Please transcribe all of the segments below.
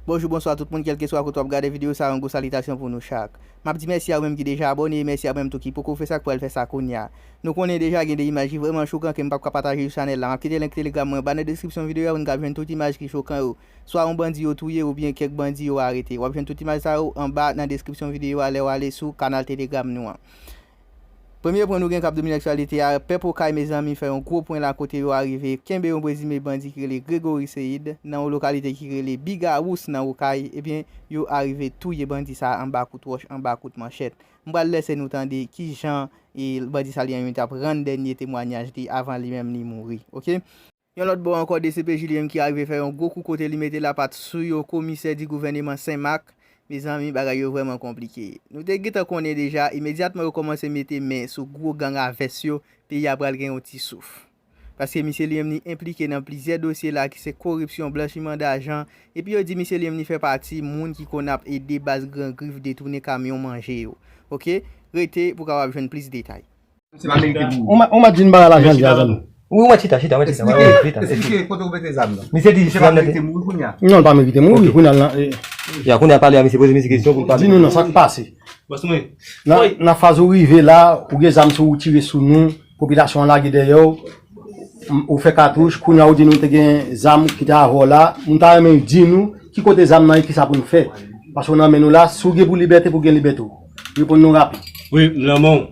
Bonjou bonswa tout moun kelkeswa kote wap gade video sa yon gwo salitasyon pou nou chak map di mèsi a ou menm ki deja abòne e mèsi a ou menm tou ki poko fè sa ki pral fè sa kounya nou konnen deja gen de imaj ki vrèman chokan kem pap ka pataje sou chanèl la map kite link telegram mwen anba nan deskripsyon video a pou nou kab jwenn tout imaj ki chokan yo swa yon bandi yo touye oubyen kèk bandi yo arete wap jwenn tout imaj sa yo anba nan deskripsyon video a lèw ale sou kanal telegram nou an. Premye pwen nou gen kap domine aktyalite a, Pèp Okay mezanmi fè yon gwo pwen la kote yo arive kenbe yon prezime bandi ki rele Gregory Seid nan yon lokalite ki rele Bigawous nan Okay ebyen yo arive touye bandi sa anba kout wòch anba kout manchèt. M pral lèse nou tande kijan bandi sa li an yon tap rann dènye temwanyaj li avan li menm li mouri ok. Yon lòt bò ankò dcpj li menm ki arive fè yon gwo kou kote li mete lapat sou yo komisè di gouvèneman Sen Mak mezanmi bagay yo vrèman konplike nou te gentan konnen deja imedyatman yo kòmanse mete men sou gwo gang a vès yo peyi a pral gen yon ti souf paske misye li menm li enplike nan plizyè dosye la ki se koripsyon blanchiman dajan epi yo di misye li menm li fè pati moun ki konn ap ede baz gran grif detounen kamyon manje yo ok rete pou kapab jwenn plis detay. Ou mèt vin bay lajan li a zanmi. Ou mèt chita chita. Esplike kote ou mete zam nan. Misye di misye pa merite mouri kounye a. Non li pa merite mouri kounye a nan. Ya kounye a pale a misye poze misye kesyon pou l pale. Di nou nan sa k pase. Nan faz ou rive la ou gen zam sou ou tire sou nou. Popilasyon an lage dèyè ou. Ou fè katouch kounye a ou di nou te gen zam ki te avè w la. Mwen ta renmen ou di nou ki kote zam nan e kisa pou nou fè. Paske ou nan men nou la. Si w gen pou libète pou w gen libète w. Reponn nou rapid. Wi m nan men w.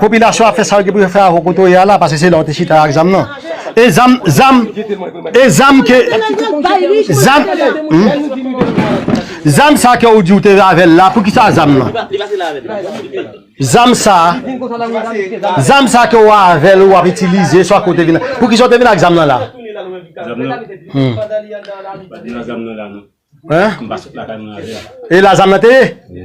Popilasyon ap fè sa yo gen pou yo fè avèw kote w ye a la paske se la w te chita ak zam nan. E zam, zam, e zam ke, zam, zam sa ke ou di ou te avèl la, poukisa zam lan? Zam sa, zam sa ke ou avèl ou ap itilize swa ke ou te vin, poukisa ou te vin ak zam lan la? Zam nan? Mpa te nan zam nan la non. Mwen pa sot lakay mwen avè. E la zam nan te ye? Wi.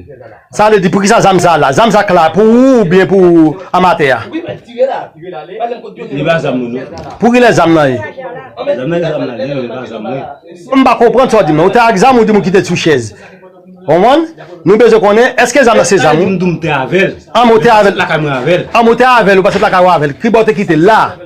Sa vle di pou kisa zam sa la? Zam sa k la pou ou ou byen pou amatè a? Wi men tire la. Tire la ale. Pale m kot yo te. Li pa zam mwen non. Pou kilè zam nan ye? Zam nan se zam la gen men li pa zam mwen. M pa konprann sa w di m nan. Ou te ak zam ou di m ou kite l sou chèz. Ou konprann? Nou bezwen konnen eske zam nan se zam ou? Sa vle di m di w m te avè l. An men w te avè l. Mwen pa sot lakay mwen avè l. An men w te avè l ou pa sot lakay ou avè l. Ki bò w te kite l la?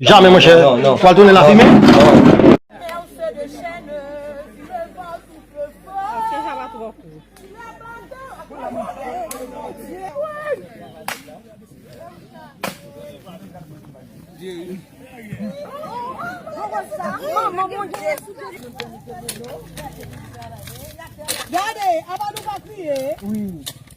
Jamè monchè, ou pral tounen lafimen.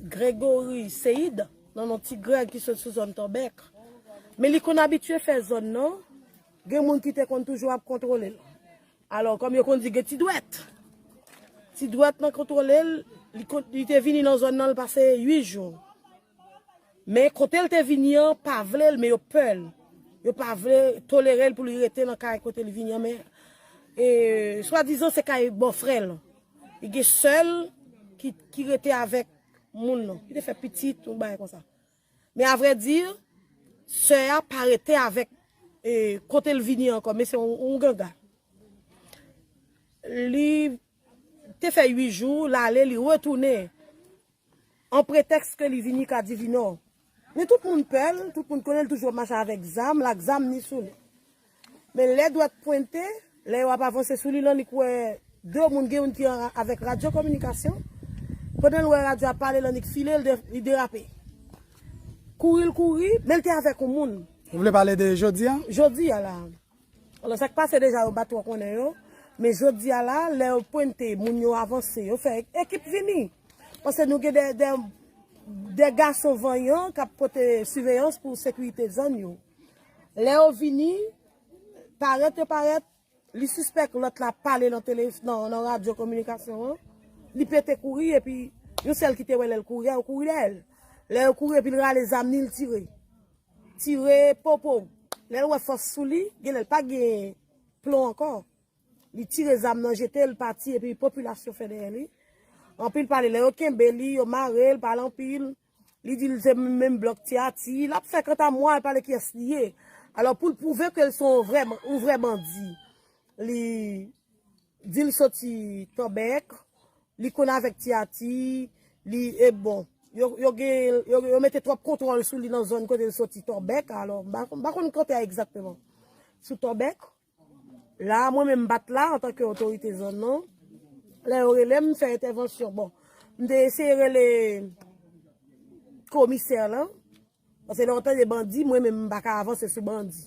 Gregory Seide, non yon ti Greg ki sot sou zòn Tòbèk. Men li konn abitye fè zòn nan, gen moun ki te konn toujou ap kontwole l. Alò, kòm yo konn di gen ti dwèt, ti dwèt nan kontwole l, li te vini nan zòn nan, li pase 8 jou. Men kote l te vini an, pa vle l, men yo pè l. Yo pa vle tolere l pou li rete nan kay kote li vini an, men swadizan se kay bòfrè l. Li gen sèl ki rete avèk moun nan. Li te fè pitit, yon bagay konsa. Men avre di, sè a pa rete avèk kote l vini ankò. Men se yon ganga. Li te fè 8 jou, l ale, li retounen. An pretèks ke li vini ka Divinò. Men tout moun pè l, tout moun konnen l toujou ap mache avèk zam l, ak zam ni sou li. Men lè dwèt pwente, lè yo ap avanse sou li lan li k wè 2 moun gen youn ki avèk radyo kominikasyon. Pandan l wè radyo a ap pale lan li k file l de, li derape. Kouri l kouri, men l te avèk yon moun. Ou vle pale de jodi a? Jodi a la. Alò sa k pase deja yo pa twò konnen yo, men jodi a la, lè yo pwente moun yo avanse, yo fè ekip vini. Pase nou gen de gason vanyan k ap pote siveyans pou sekirite zòn yo. Lè yo vini, parèt yo parèt, li sispèk lòt la ap pale nan radyo kominikasyon an, li pete kouri epi yon sèl ki te wè lè l kouri a, yo kouri dèyè l. Lè yo kouri epi l rale zam li, li tire. Tire popo w. Lè l wè fòs sou li, genlè l pa gen plon ankò. Li tire zam nan jete l pati epi popilasyon fè dèyè li. Anpil pale lè yo kenbe li, yo mare l, pale anpil. Li di l se menm blòk ti Ati. L ap fè kantamwa, l pale kiyès li ye. Alò pou l pwouve ke l se yon vrè bandi, li. Dil soti tòbèk li konn avèk ti ati li e bon yo gen yo mete twòp kontwòl sou li nan zòn kote l soti tòbèk alò m pa konn kote a egzakteman sou tòbèk la mwen menm m pat la antanke otorite zòn nan lè yo rele m fè entèvansyon bon m te eseye rele komisè lan. Pase lè w tande bandi, mwen menm m pa ka avanse sou bandi.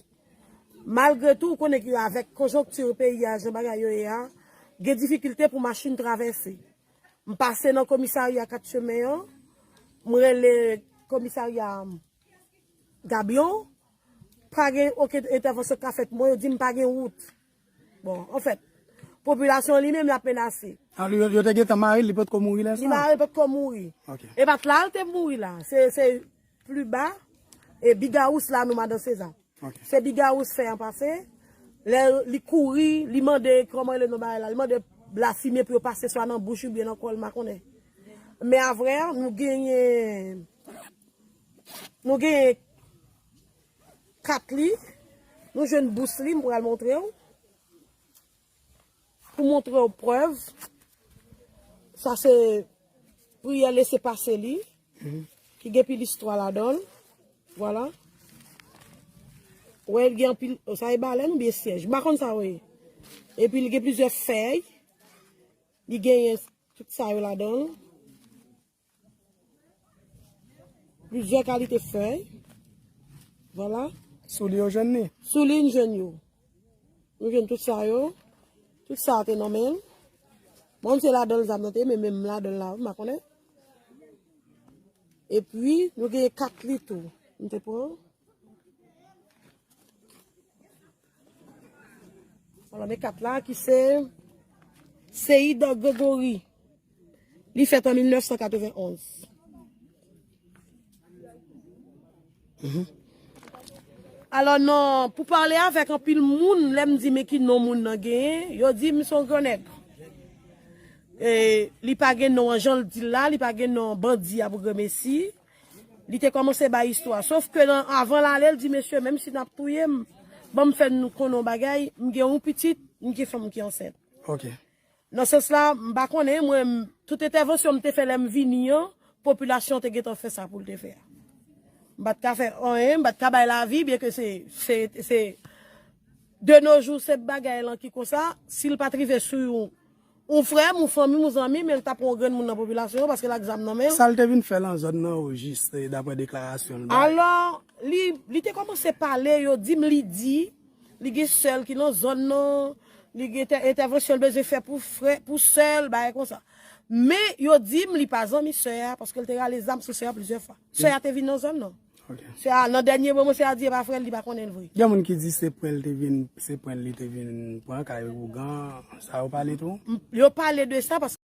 Malgre tou, ou konnen ke avèk konjonkti peyi a, jan bagay yo ye a, gen difikilte pou machin travèse. M pase nan komisarya 4 chemen an, m rele komisarya Gabion, pa gen okenn entèvansyon k ka fèt. Mwen yo di m pa gen wout. Bon, anfèt, popilasyon an li menm l ap menase. A, li, yo te gentan mare l, li potko mouri lè sa? Li mare, li potko mouri. Ok. E pa t la l te mouri la. Se, se pli ba, e Bigawous la nou Madan Seza. Ok. Se Bigawous fè an pase, lè li kouri, li mande kòman rele non bagay la, li mande lafime pou yo pase swa nan bouch oubyen nan kò l, m pa konnen. Men avre a, nou genyen, nou genyen. Kat li, nou jwenn bous li, m pral montre w. Pou montre w prèv, sa se priyè lese pase li, ki gen pil istwa ladan l. Vwala. Ou wè l gen anpil, sa e balèn oubyen syèj? M pa konn sa yo ye. Epi l gen plizyè fèy, li genyen tout sa yo ladan l. Plizyè kalite fèy. Vwala. Sou li yo jwenn ni? Sou li n jwenn yo. Nou jwenn tout sa yo. Tout sa a te nan men. Mwen se la dan zam nan te men men m la dan la. Mwen konnen. E pi nou gen kat li tou. Mwen te pran. Wala me kat la ki se Seid Gregory. Li fèt an 1991. Alò non, pou pale avèk anpil moun, lè m di men ki non moun nan genyen, yo di m se yon gran nèg. E li pa gen non an jan l di l la, li pa gen non bandi a pou gremesi. Li te kòmanse bay istwa. Sof ke nan avan l ale, l di, Mesye, menm si n ap touye m, ban m fè n nou konnen yon bagay, m gen yon pitit, m gen fanm ki ansent. Ok. Nan sans la, m pa konnen, mwen, tout entèvansyon m te fè lè m vini an, popilasyon an te gentan fè sa pou l te fè a. M pa t ka fè anyen, m pa t ka bay lavi, byenke se, se, se, de no jou se bagay lan ki konsa, si l pa t rive sou yon. Ou frè m ou fanmi m ou zanmi m e l ta pran yon grenn moun nan popilasyon yo paske l ak zam nan men l. Sa l te vin fè lan zòn nan o jis daprè deklarasyon l bay? Alò, li, li te kòmanse pale, yo di m li di, li gen sè l ki lan zòn nan, li gen tè entèvansyon l bezwen fè pou frè, pou sè l, bagay konsa. Men, yo di m li pa zanmi sè a paske l te rale zam sou sè a plizyè fwa. Sè a te vin nan zòn nan. Sè a nan dènye moman sè a di e pa frè l li pa konnen l vre. Gen moun ki di se pwen l te vin se pwen l li te vin pran kay ougan sa yo pale tou. Yo pale de sa paske.